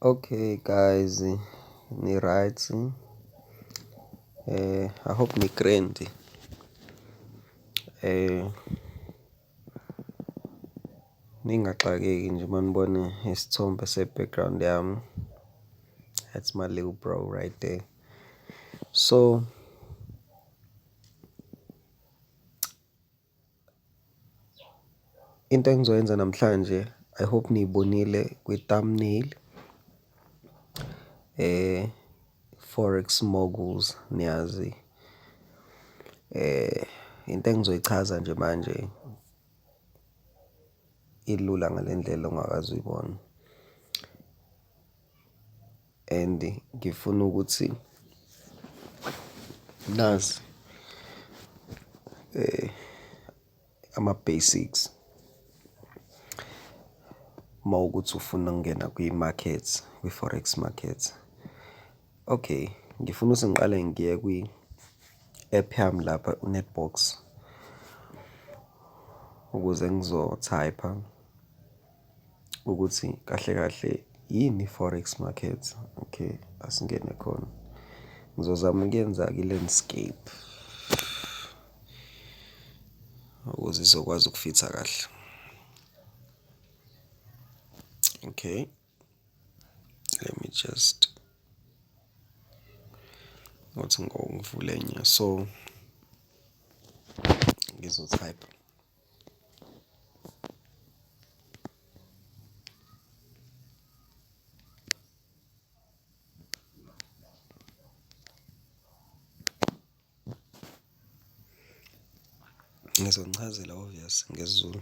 Okay guys, ni-right. Eh, I hope ni-grand. Eh, ningaxakeki nje uma nibona isithombe se-background yami. That's my little bro right there. So Into engizoyenza namhlanje I hope niyibonile kwi-thumbnail eh forex moguls niyazi eh into engizoyichaza nje manje ilula ngalendlela ongakazi uyibona and ngifuna ukuthi nazi um ama-basics uma ukuthi ufuna ukungena kwi-market, kwi-forex market. Okay, ngifuna ukuthi ngiqale ngiye kwi-app yami lapha uNetbox ukuze ngizothayipha. ukuthi kahle kahle yini i-forex market. Okay, asingene khona. Ngizozama ukuyenza-ke i-landscape ukuze izokwazi ukufitha kahle. Okay. Let me just ngothi ngivule enye so ngizotype. Ngizonichazela obvious ngesiZulu.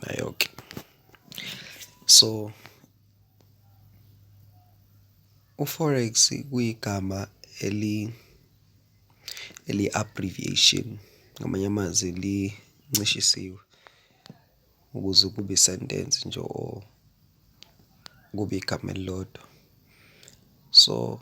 nayo-ke so uForex kuyigama eli eli-abbreviation ngamanye amazwi lincishisiwe ukuze kube i-sentence nje or kube igama elilodwa so.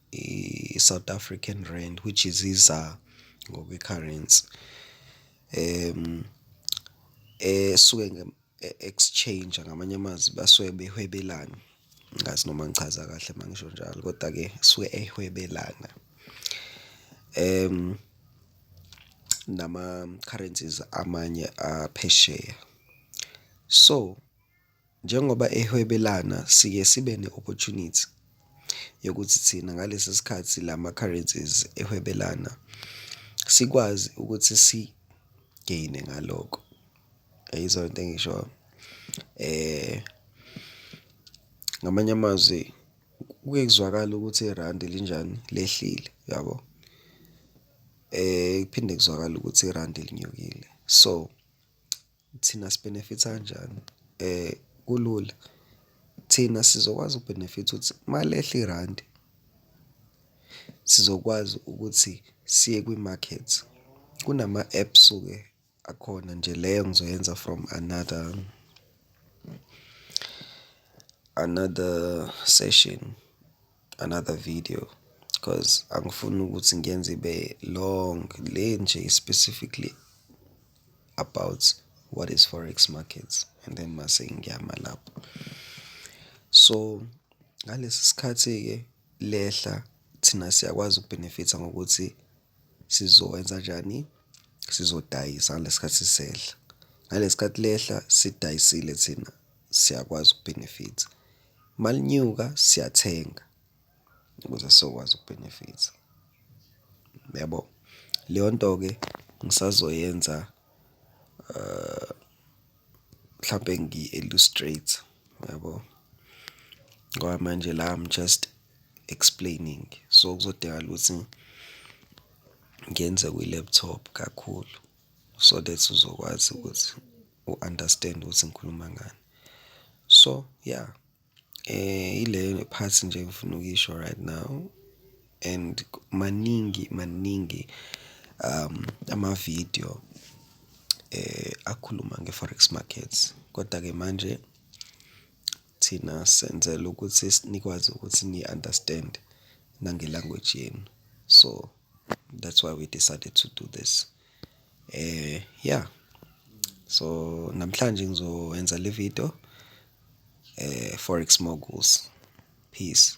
i-South African Rand which is i-ZAR ngokwe-currency esuke e-exchange ngamanye amazwi basuke behwebelana. Angazi noma ngichaza kahle uma ngisho njalo koda-ke suke ehwebelana nama-currencies amanye aphesheya so. Njengoba ehwebelana siye sibe ne-opportunity yokuthi thina ngalesi sikhathi lama currencies ehwebelana sikwazi ukuthi si-gain-e ngaloko. Uyayizwa lento engiyishoyo? Ngamanye amazwi kuke kuzwakale ukuthi irandi linjani? Lehlile, uyabo? Kuphinde kuzwakale ukuthi irandi linyukile so. Thina si-benefit-a kanjani? Kulula, thina sizokwazi uku-benefit-a ukuthi uma lehla irandi, sizokwazi ukuthi siye kwi-market. Kunama-app suke akhona nje leyo ngizoyenza from another, another session. another video cause angifuni ukuthi ngiyenze ibe long le nje specifically about what is forex markets and then mase ngiyama lapho. So ngalesi sikhathi-ke lehla thina siyakwazi ukubhenefitha ngokuthi Sizowenza njani? Sizodayisa ngalesi sikhathi sisehla. Ngalesi sikhathi lehla sidayisile thina siyakwazi ukubhenefitha. Uma linyuka siyathenga ukuze sizokwazi ukubhenefitha. Uyabo? Leyo nto-ke ngisazoyenza mhlampe ngi-illustrate yabo ngoba manje la I'm just explaining so kuzodingakala ukuthi ngenze kwi-laptop kakhulu so that uzokwazi ukuthi u-understand ukuthi ngikhuluma ngani so yeah Ileyo part nje engifuna ukuyisho right now and maningi maningi amavidiyo akhuluma nge-forex market. Koda-ke manje thina senzela ukuthi nikwazi ukuthi ni-understand-e nange-language yenu. So that's why we decided to do this. Ya, so namhlanje ngizoyenza le video Forex Moguls. Peace.